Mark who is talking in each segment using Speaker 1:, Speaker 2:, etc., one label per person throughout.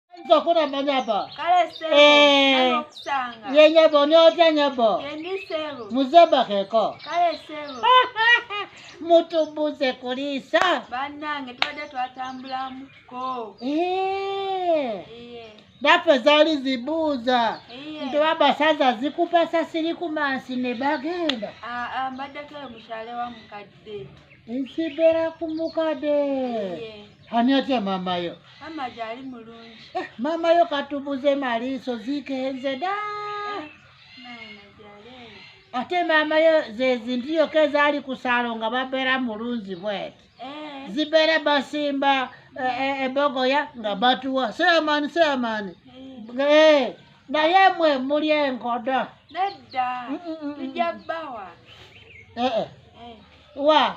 Speaker 1: Ayinza okuba amanya bo. Kale sebo Eh.
Speaker 2: nali okusanga. Ye nyabo n'otya
Speaker 1: nyabo. Yendi sebo.
Speaker 2: Muzebakeko.
Speaker 1: Kale sebo.
Speaker 2: Mutubuze
Speaker 1: kuliisa. Bannange tubadde
Speaker 2: twatambulamuko. Eh. Iye.
Speaker 1: Naffe zaali zibuuza. Iye. Nti babasaza zikupasa siri ku mansi ne bagenda. Ah, ah, mbaddeko eyo
Speaker 2: mukyale wa mukadde. Nsibeera
Speaker 1: ku mukadde. Iye. Ani atya maama yo? Maama gyali
Speaker 2: mulungi. Eh, maama yo
Speaker 1: katubuze maliiso zikenze da. Eh, Ate maama yo zezintu yoka ezaali ku saalo nga babeera mulungi bweti. Eh. Zibeera basimba ebogoya nga batuwa. Seyamani seyamani. Naye mwe muli enkodo. Nedda.
Speaker 2: Mm, mm, mm, Tujja bawa. Eh eh.
Speaker 1: Wa.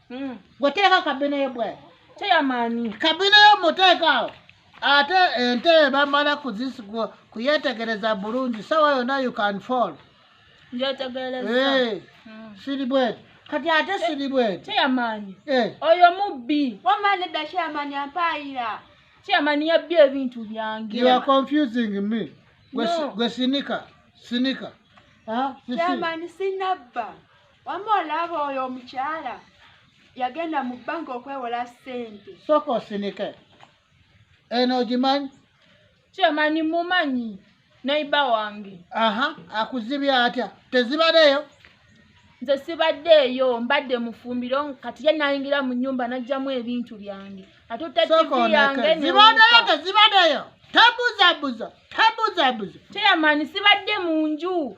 Speaker 1: Mm. Goteeka kabina yo bwe. Chairman.
Speaker 3: Kabina yo muteeka.
Speaker 1: Ate ente bamala kuzisigo kuyetegereza bulungi sawa yona you can fall. Njetegereza.
Speaker 3: Hey. Eh. Mm. Siri
Speaker 1: bwe. Kati ate siri bwe. Chairman. Eh.
Speaker 3: Oyo mubbi. Wama ne da chairman
Speaker 2: ampaira. Chairman ya
Speaker 3: bye bintu byange. You are confusing
Speaker 1: me. Gwe no. sinika. Sinika. Ah,
Speaker 2: chairman sinabba. wama olaba oyo omukyala yagenda mu banka okwewola sente soka osinike
Speaker 1: eno ogimanyi kyemanyi
Speaker 3: mumanyi naiba wange aha akuzibya
Speaker 1: atya tezibadeyo nze
Speaker 3: sibadde eyo mbadde mufumbiro kati ye nayingira mu nyumba najjamu ebintu byange ate otazibadeyo tezibadeyo
Speaker 1: tebuzabuza tebuzabuza
Speaker 3: kyeyamaani sibadde mu nju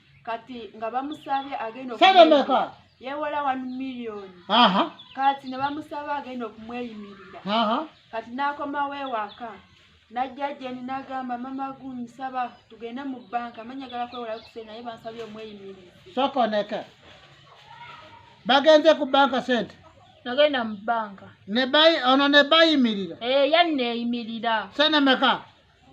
Speaker 2: kati nga bamusabye agenda sente meka
Speaker 1: yewola 1
Speaker 2: million aha kati ne bamusaba agenda okumweyimirira aha kati nakomawo ewaka najja jeni nagamba mama gunsaba tugende mu banka manyagala kwewola kuse naye bansabye omweyimirira soko neka
Speaker 1: bagenze ku banka sente nagenda mu
Speaker 3: banka ne bayi ono
Speaker 1: ne bayimirira eh yani neyimirira
Speaker 3: sente meka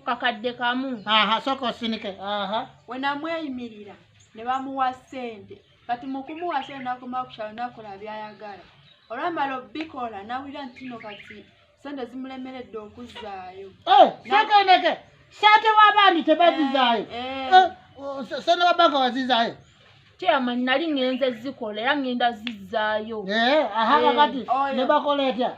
Speaker 1: kakadde
Speaker 3: kamu aha sooka osinike
Speaker 1: aha we
Speaker 2: namweyimirira ne bamuwa ssente kati mu kumuwa ssente nakoma ku kyalo nakola byayagala olwamala obikola nawulira nti no kati ssente zimulemeredde okuzzaayo eh, sekeneke
Speaker 1: sente wabandi tebazizaayo eh, eh. sente wabanka wazizaayo chairman
Speaker 3: nali ngenze zikola era ngenda zizzaayo aha kakati
Speaker 1: ne bakola etya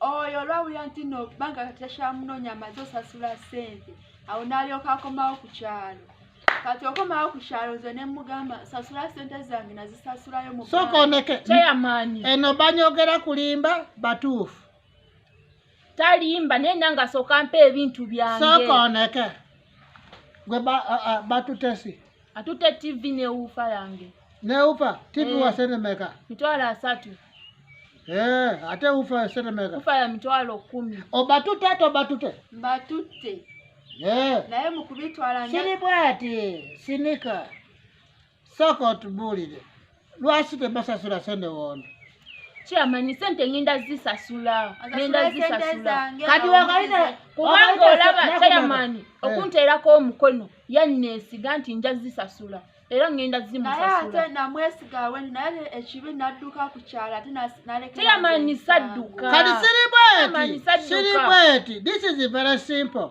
Speaker 1: oyo olwawulira
Speaker 2: nti no kubanga kati takyamunoonya amaze osasula ssente awo n'alyoka akomawo ku kyalo kati okomawo ku kyalo nze ne mugamba sasula ssente zange nazisasulayo musooka oneke kyeyamaanyi
Speaker 1: eno
Speaker 3: banyogera
Speaker 1: kulimba batuufu
Speaker 3: talimba naye nanga asooka mpa ebintu byange sooka oneke
Speaker 1: gwe batutesi ba, uh, uh, Atute
Speaker 3: TV ne ufa yange. Ne ufa
Speaker 1: TV eh, wa sene meka. Mitwalo asatu. Eh, ate ufa
Speaker 3: sene meka.
Speaker 1: Ufa ya mitwalo 10. Obatute to batute. Batute.
Speaker 2: Eh. Naye mukubitwala nya. Sini bwati,
Speaker 1: sinika. Soko tubulire. lwaki tebasasula sente wondi kyamanyi
Speaker 3: sente ngenda zisasula ngenda zisasula
Speaker 1: kati wakalina kubanga olaba
Speaker 3: chairman eh. okunteerako omukono yanneesiga nti nja zisasula era ngenda
Speaker 2: zimusasulakyamanyi sadduka
Speaker 3: kati siribweti
Speaker 1: siribweti this is very simple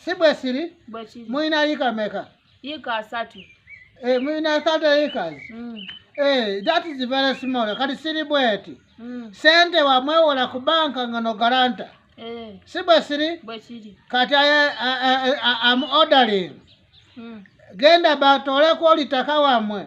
Speaker 1: si bwe siri bwe kiri mulina yiika meka yiika asatu
Speaker 3: eh, mulina asatu
Speaker 1: yiikazi mm. eh, that is very small kati siri bweti mm. sente wamwewola ku banka nga no garanta eh. si bwe siri bwe kiri kati aye am ordering mm. genda batoole kwolitaka wamwe